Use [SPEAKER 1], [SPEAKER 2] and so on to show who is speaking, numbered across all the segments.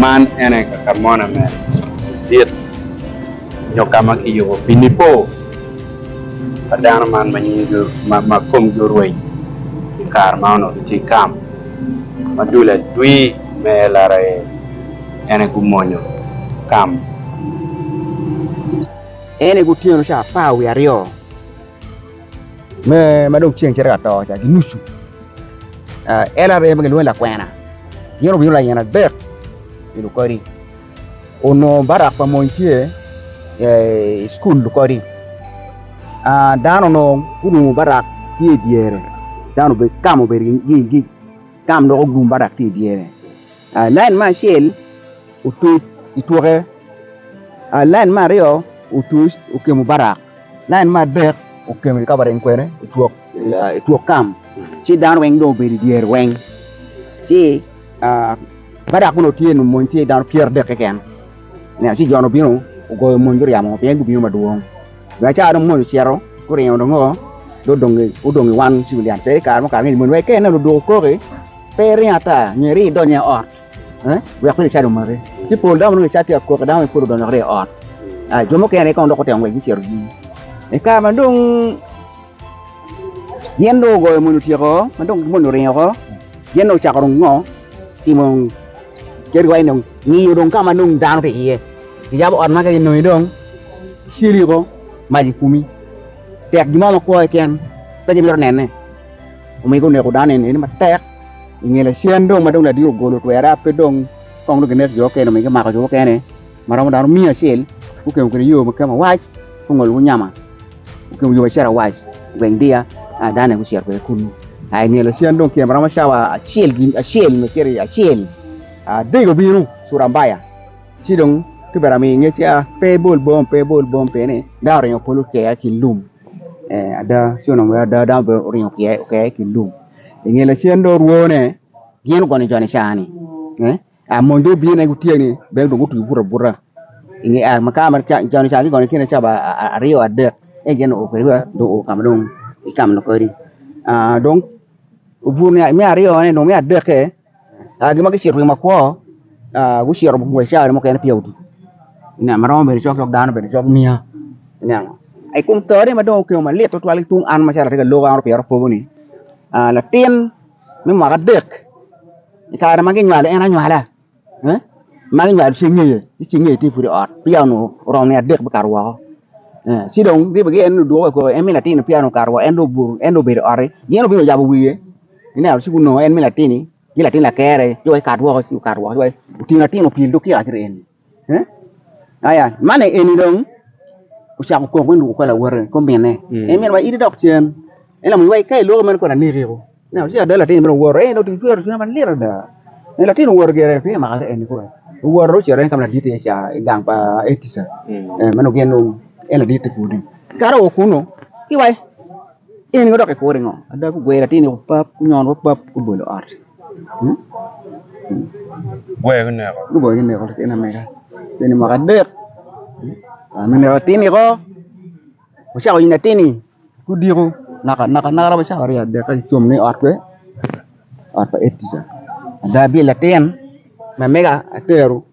[SPEAKER 1] Man ene kakamona me dit nyo ka ma kiyubo pi Nipo. pa dano man ma nyingi ma komgi orweny i kare ma onongo gitye i kam ma dul adwi me LRA-ni ene gumonyo kam. Ene gutyeno ca apar wiye aryo me ma dong ceng cito ka to ca ki nucu, LRA ma gilwongo ni lakwena gin obino layen adek i lukodi. Onongo Barak pa mony tye i cukul kodi. Dano onongo gulungo Barak tye i dyere, dano obedo tam obedo gigi tam dok ogum Barak tye i dyere. Lain me acel otuc itwoke, lain me aryo otuc okemo Barak. Lain me adek okemo i kabarin kwene i twok i twok kam, ci dano weng dong obedo i dyere weng, ci badak meno tye nongo mony tye dano pyeradek keken, nen ci jo-nu obino ogoyo mony guryemo pien gubino madwong, bene cawa dong mony ocito guringo dong ngo dong odong odong i wan civilian pe kare mo kare ngeyo mony wek iketo nen odoko koki pe iringo ata nyo iringo idonyo i ot. wek peya cat omaki. Ci pol dano ma nongo cat tye ka koki, dano moni pud odonyo dok ryeye ot. Aa, jo mukene kono dok gutemo ngwec gucito tung. I kare ma dong gin dong ogoyo moni otyeko woko, ma dong moni oringo woko, gin dong ocako dong ngo, timo kadi iwaci dong ngiyo dong ka ma dong dano tye iye. Giyabo ot ma ka ginongi dong, giceli woko, mac ekumi. Tek gin mo makwo keken pe gimito nene, omiyo guneko dano eni matek. I nge lacen dong ma dong ladiro ogolo twere pe dong kong dong ginek jo mukene nyo gimako jo mukene ma romo dano miya acel gukemo kwede yo ma kemo awac gungolo ki nyama gukemo yo macito awac i gweng Diya aa dano aye gucito kwede kunu aa i nge lacen dong kemo romo cawa acel gin acel nyo cito i acel aa dege obino Curambaya ci dong kibene ami ngec pe bol bong pe bol bong peni dano oringo polo kea ki lum. ee ada ci onongo bene ada dano bene oringo ki iye ki lum i nge lacen dong orwone gin ogonyo con i caa-ni aa mony dong obino nen gutye ni bene dong gutye buto abuta con i caa kigonyo tye nen calo ba aryo adek ento gin oo kwede wa dong oo ka ma dong kicamo kodi aa dong obuto me aryone dong me adekke Gin ma kicito gin makwo gucito biacara mukene peya otum ma romo bedo cok dano bene cok miya ineno i kom to ni ma dong okemo malit tutwal ki tung an macalo atye ka lok an opyere akobo ni latin me mwaka adek i kare ma ginywalo en anywala ma ginywalo cing ngeye ci cing ngeye tye pud i ot peya onongo oromo nino adek me kato woko ci dong ribo gi en ni ludwoke koko en ni latin-ni peya onongo okato woko en dong obuto en dong obedo i otti gin obino oyabo wiye ineno ci gunongo en me latin-ni ci latin lakere ci wai kat woko ci okato woko ci wai otingo latin opye idog kika ki ri eni he aya man aye eni dong ocako kok me lwoko kor lawote kor minne en miniwa in idok cen en lamony wai ka iloko meno kong anekiko ineno ci ada latin-ni bene owoto en dong otye cwero cwinya malit ada en latin-ni owoto gire pingo omaka ki eni kore owoto dong ocito en ka ma ladit iye ca i gang pa etica ma nongo gin dong en ladit ti kudi kato wa kunnu ci wai In ingo dok ikure ngo? Ada gugwelo atir ni opap, gunyono wa pap, gubolo ot. Hmm? Hmm. Gwe ki neko. Gubolo ki neko latin amega. Latin mwaka adek. Ah, me neko latin iko. Wacako in latin-ni. Gudiko. Naka naka naka romo cako aryo adek ka gicom ni ot pe. Ot pa Etica. Ada bye latin. Mamega atero.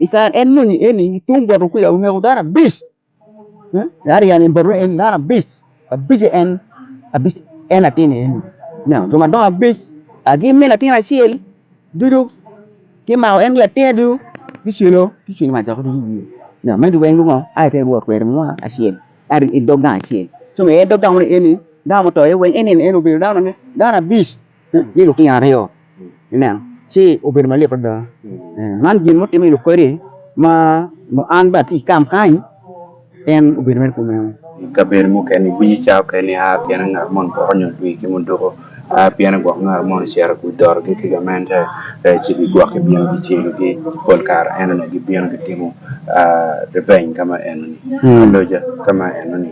[SPEAKER 1] I kare en moni eni, tung bot okuca oneko dano abic. Aryan en bot en dano abic. Abic en abic en latin eni. Ineno, jo madongo abic agi me latin acel ducu kimako en ki latinne ducu kicelo kicwinyo macok ducu i wiye. Ineno, magi weng lungo ai te wot kwede mo acel i dog gang acel. Ci omege dog gang moni eni dano muto iye weng en eni en obedo dano abic. ni lutino aryo ineno ci obedo malit adada man gin mo timo lok kwede ma mo an bene atye ikam kany en obedo mere kumeno kabedo mukene iwinyo cawa keken ni aa pien ngat moni poko nyo twi ki muduko aa pien gwok ngat moni cito i dorogi ki gamente ci gigwok gibino gicelo gi pol kare ento ni gibino gitimo revenge kama enoni aloja kama enoni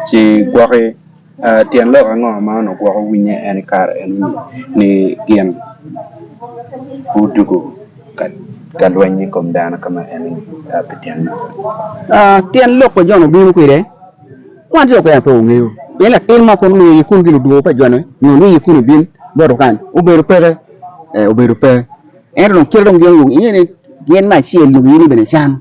[SPEAKER 1] ci gwoki Tyen lok ango ma onongo gwoko winnye en i kare eno-ni ni gin gudwogo ka lweny i kom dano ka ma en aye pi tyen meno? Tyen lok pa Jon obino kwede, wan jo okene pe wangeyo. Pien latin mo kong nongo i ye kunu gin odwogo pa Jone nyo ni i ye kunu ibin boto kany, obedo peke? Ee, obedo pe. Ento dong kite dong gin onongo gingeo ni gin me acel nyo giyini bene can.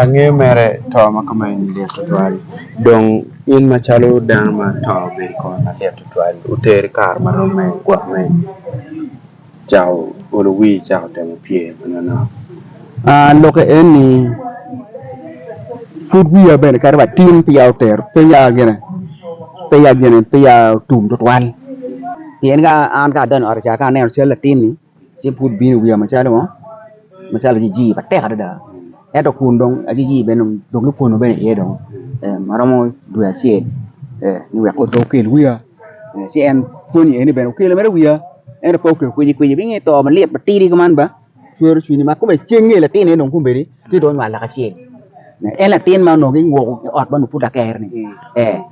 [SPEAKER 1] Angeyo mere to ma kome ni lit tutwal dong in macalo dano ma to obedo i kome malit tutwal oteri kare marom me gwok me cako olo wir cako temo pye ma nonok lokke eni pud wiya bene kato wa tin peya otero peya gine peya gine peya otum tutwal pien ka an ka adonyo ot ca ka aneno cal latin-ni ci pud bino i wiya macalo ngo macalo jiji matek adada ento kun dong ajiji bene dong dong lupwono bene iye dong ma romo dwe acel ni wek pe okel wiya ci en pwonye eni bene okelo mere wiya ento pe okelo kwici kwici pingo i to malit matidi kuman ba cwero cwinyi ma kome cen nge latin eni dong kombeddi ci dong onywal lak acel en latin ma onongo kinguko ki ot ma onongo pud lakere-ni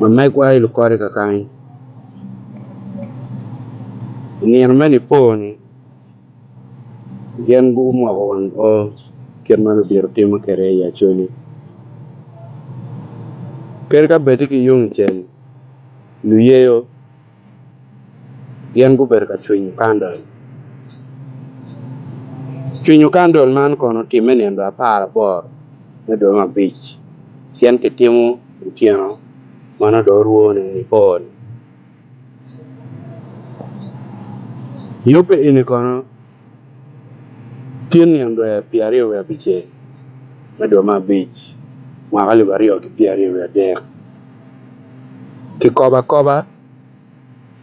[SPEAKER 1] Lumegwa i Lukodi kakanyi i nino me Nipo-ni gin gumoko wang o kit ma lubito timo kwede i Acholi. Kadi ka bed-di ki yung icel, luyeyo gin gubedo ka cwinyo kandel. Cwinyo kandel man kono otimme nino apar aboro me dwe me abic, pien kitimo otyeno ma nongo dong orwo ni Nikon. Yubbe eni kono. Cen nino dwe pye aryo wiye abicel me dwe me abic mwaka alip aryo ki pye aryo wiye adek, kikobo akoba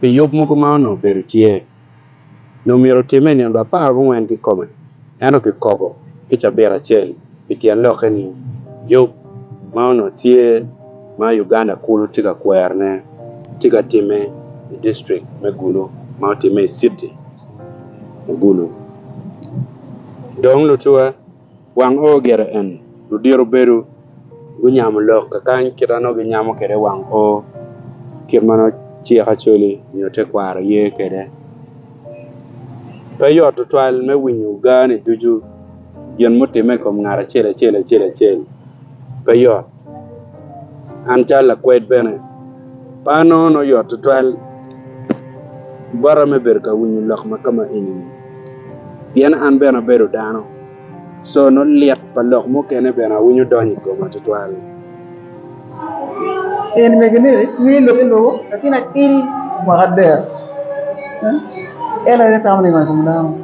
[SPEAKER 1] pi yub mogo ma onongo obedo tye, nyo myero otimme i nino dwe apar gungwen kikome, ento kikobo ki cabit acel pi tyen lokke ni yub ma onongo tye ma Uganda kulu tye ka kwerone tye ka timme i district me Gulu ma otimme i city. obulu. Dong lucuwa, wang oo gire en. Ludito bedo gunyamo lok kakany kit ma nongo ginyamo kwede wang oo, kit ma nongo cik Acholi nyo tekwaro ye kwede. Pe yot tutwal me winyo gaa-ni ducu, gin mutimme i kom ngat acel acel acel acel, pe yot. An calo lakwed bene, par nongo nongo yot tutwal bota me bedo ka winyo lok ma kama eni pien an bene abedo dano co nongo lit pa lok mukene bene awinyo donyo i koma tutwal.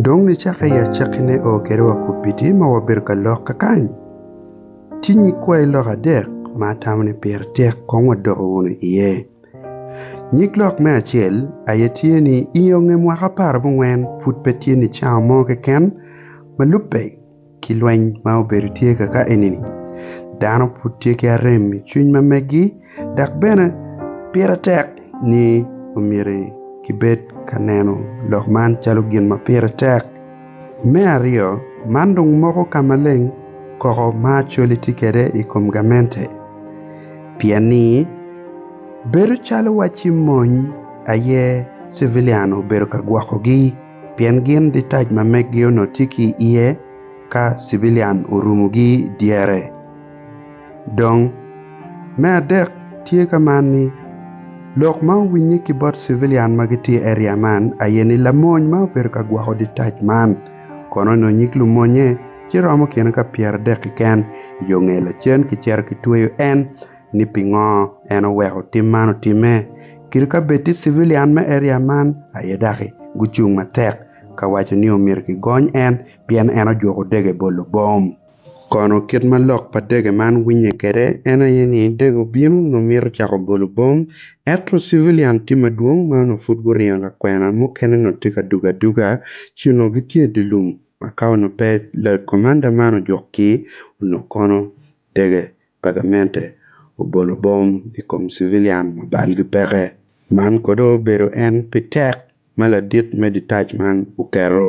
[SPEAKER 1] Dong nicake i acakkine oo kede wakobidi ma wabedo ka lok kakany. Tye nyig kwayi lok adek ma atamo ni pire tek kong wadoko wunu iye. Nyig lok me acel aye tye ni i onge mwaka apar abongwen pud pe tye nicawa mo keken ma lubbe ki lweny ma obedo tye kaka eni-ni. Dano pud tye ki arem i cwiny ma meggi dok bene pire tek ni omyero kibed ka neno lok man calo gin ma pire tek. Me aryo, man dong moko ka maleng koko ma Acholi tye kwede i kom gamente. Pien ni, bedo calo wacci mony aye civilian obedo ka gwokogi, pien gin ditac ma meggi onongo tye ki iye ka civilian orumogi dyere. Dong, me adek tye ka man ni, lok ma owinye ki bot civilian ma gitye i area man aye ni lamony ma obedo ka gwoko ditac man kono nyo nyig lumonye ci romo kine ka pyeradek keken i yo nge lacen kicito kitweyo en ni pingo en oweko tim man otimme kit ka bed tye civilian me area man aye daki gucung matek ka waco ni omyero kigony en pien en ojuko dege bolo bom. Kono kit ma lok pa dege man winye kwede en aye ni dege obino nongo mito cako golo bom ento civilian tye madwong ma onongo pud guringo lakwena mukene onongo tye ka dugo aduga ci onongo gitye i dye lum ma ka onongo pe comanda man ojuk ki onongo kono dege pa gamente obolo bom i kom civilian ma balgi peke. Man kono obedo en pi tek ma ladit me ditac man oketo.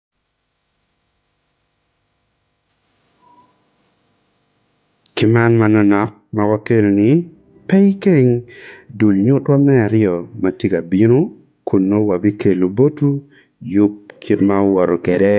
[SPEAKER 1] Ki man manonok ma wakelo-ni, pe ikeng dul nyutwa me aryo ma tye ka bino kun nongo wabikelo botwu yub kit ma wuwoto kwede.